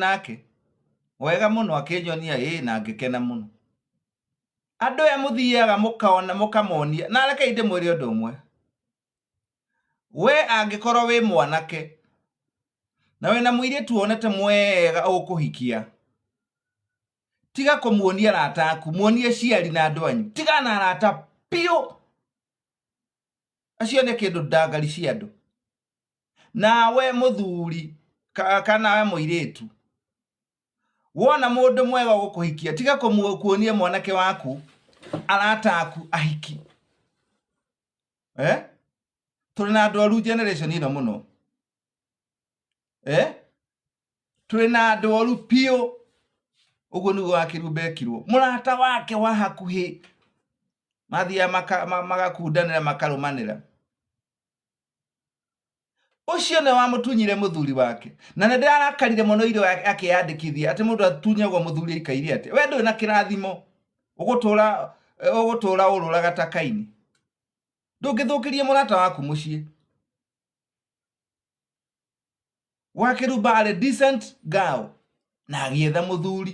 nake wega mũno akĩnyonia ĩĩ na ngĩkena mũno andũ aya mũthiaga mũkaona mũkamonia na rekei ndĩmwĩre ũndũ ũmwe we angĩkorwo wĩ mwanake na wĩna mũirĩtu wonete mwega ũkũhikia tiga kũmuonia arata aku muonie ciari na andũ anyu tiga na arata piũ acio nĩ kĩndũ ndangari cia andũ nawe mũthuri ka- kana we mũirĩtu wona mũndũ mwega gũkũhikia tiga kũmu- kuonia mwanake waku arata aku ahiki eh? tũrĩ na andũ oru generation ĩno mũno eh? tũrĩ na andũ oru piũ ũguo nĩguo wakĩrumba ekirwo mũrata wake wa hakuhĩ mathiaga maka- ma- magakundanĩra makarũmanĩra ũcio nĩ wamũtunyire mũthuri wake na nĩ ndĩrarakarire mũno irĩ wake akĩyandĩkithia atĩ mũndũ atunyagwo mũthuri aikaire atĩ we ndũrĩ na kĩrathimo ũgũtũra eh, ũgũtũra ũrũraga ta kaini ndũngĩthũkĩrie mũrata waku mũciĩ wakeruba arĩ decent girl na agĩetha mũthuri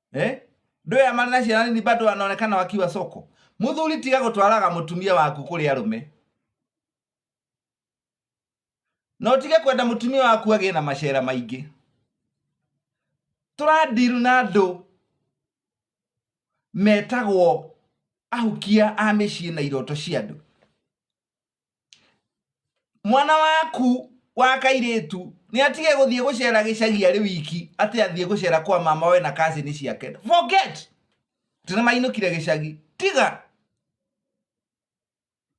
eh? Ndoe ya marina ciana nini bado anaonekana wakiwa soko. Muthuri tiga gutwaraga mutumia waku kuri arume. Na utige kwenda mutumia waku agie na macera maingi. Turadiru na andu metagwo ahukia a mĩciĩ na iroto cia andũ mwana waku wa kairĩtu nĩ atige gũthiĩ gũcera gĩcagi arĩ wiki atĩ athiĩ gũcera kwa mama we na kazini ciake forget tene mainũkire gĩcagi tiga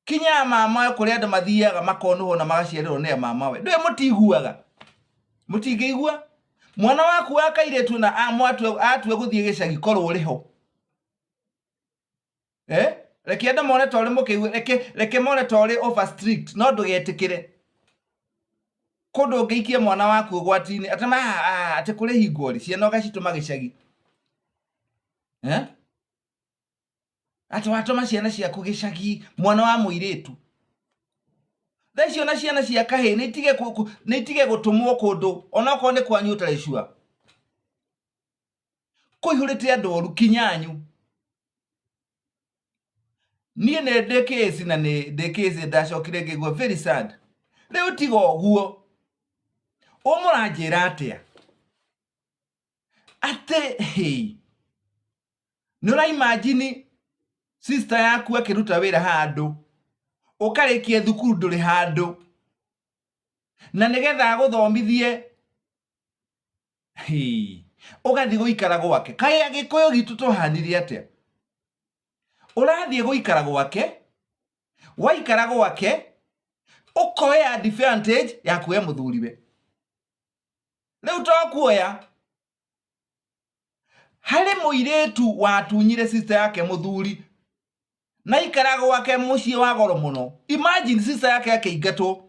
kinya mama we kũrĩa andũ mathiaga makonũhwo na magaciarĩrwo nĩ mama we ndũĩ mũtiiguaga mũtingĩigua mwana waku wa kairĩtu na amwatua atua gũthiĩ gĩcagi korwo ũrĩ ho eh reke ende mone tore mukiu reke reke mone tore over strict no ndugetikire kundu ngiikie mwana waku gwatini atama ati kuri hingori ciana ugacituma gicagi eh ati watuma ciana ciaku gicagi mwana wa muiritu thaa icio na ciana cia kahä nä itige gå tå mwo kå ndå onakorwo nä kwanyu å tarä cua kũihũrĩte andũ oru kinyanyu niĩ nĩ ndĩ kĩsi na nĩ ndĩ kĩsi ndacokire ngĩgua very sad rĩu tiga ũguo ũmũranjĩra atĩa atĩ hey, nĩ ũraimajini sista yaku akĩruta wĩra handũ ũkarĩkia thukuru ndũrĩ handũ na nĩgetha agũthomithie ugathi guikara gwake kae agikuyu gitu tuhanire atia urathie guikara gwake waikara gwake ukoya advantage ya kuwe muthuriwe riu to kuoya hari muiritu watunyire sister yake muthuri na ikara gwake mucii wa goro muno imagine sister yake akeingatwo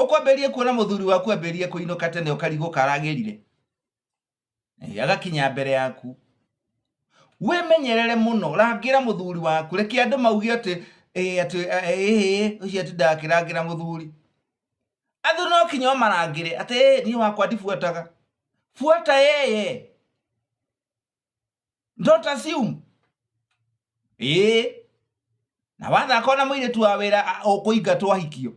ũkwambĩrĩrie kuona mũthuri waku ambĩrĩrie kũinũka tene ũkarigũka aragĩrire Eh, agakinya mbere yaku wĩmenyerere mũno rangĩra mũthuri waku reke andũ mauge atĩ "Eh, atĩ eh, eh, eh, ũcio atindaga akĩrangĩra mũthuri athuri no kinya ũmarangĩre atĩ "Eh, niĩ wakwa ndibuataga buata yeye don't assume ĩĩ na wathaka ona mũirĩtu wa wĩra a- ũkũingatwo ahikio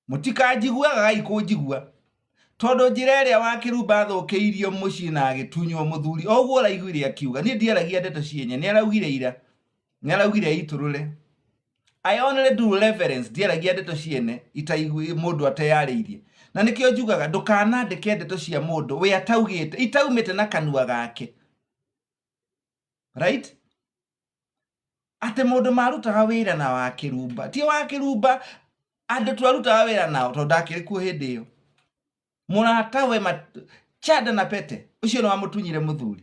mũtikanjiguaga gai kũnjigua tondũ njĩra ĩrĩa wa kĩrumba athũkĩirio mũciĩ na agĩtunywo mũthuri o ũguo ũraiguire akiuga niĩ ndiaragia ndeto cienye nĩ araugire ira nĩaraugire aitũrũre I only do reverence ndiaragia ndeto ciene itaigui mũndũ ateyarĩirie na nĩkĩo njugaga ndũkanandĩke ndeto cia mũndũ we ataugĩte itaumĩte na kanua gake right atĩ mũndũ marutaga wĩra na wa kĩrumba ti wa kĩrumba andũ twarutaga wĩra nao tondũ ndakĩrĩ kuo hĩndĩ ĩyo mũrata we mat- chada na pete ũcio nĩ wamũtunyire mũthuri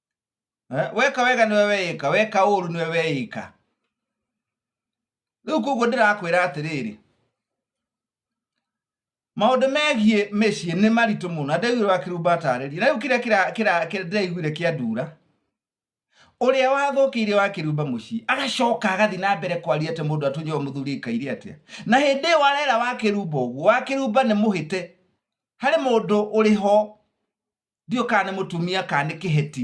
eh, weka wega nĩwe weĩka weka ũũru nĩwe weĩka rĩu koguo ndĩrakwĩra atĩrĩrĩ maũndũ megiĩ mĩciĩ nĩ maritũ mũno na ndaiguire wa kĩrumba atarĩrie na rĩu kĩrĩa kĩra- kĩra- kĩra- ndĩraiguire kĩa ndura ũrĩa wathũkĩire wa kĩrumba mũciĩ agacoka agathiĩ na mbere kwaria atĩ mũndũ atũnyewo mũthuri aikaire atĩa na hĩndĩ ĩyo warera wa kĩrumba ũguo wa kĩrumba nĩ mũhĩte harĩ mũndũ ũrĩ ho, ndiũĩ kana nĩ mũtumia kana nĩ kĩheti,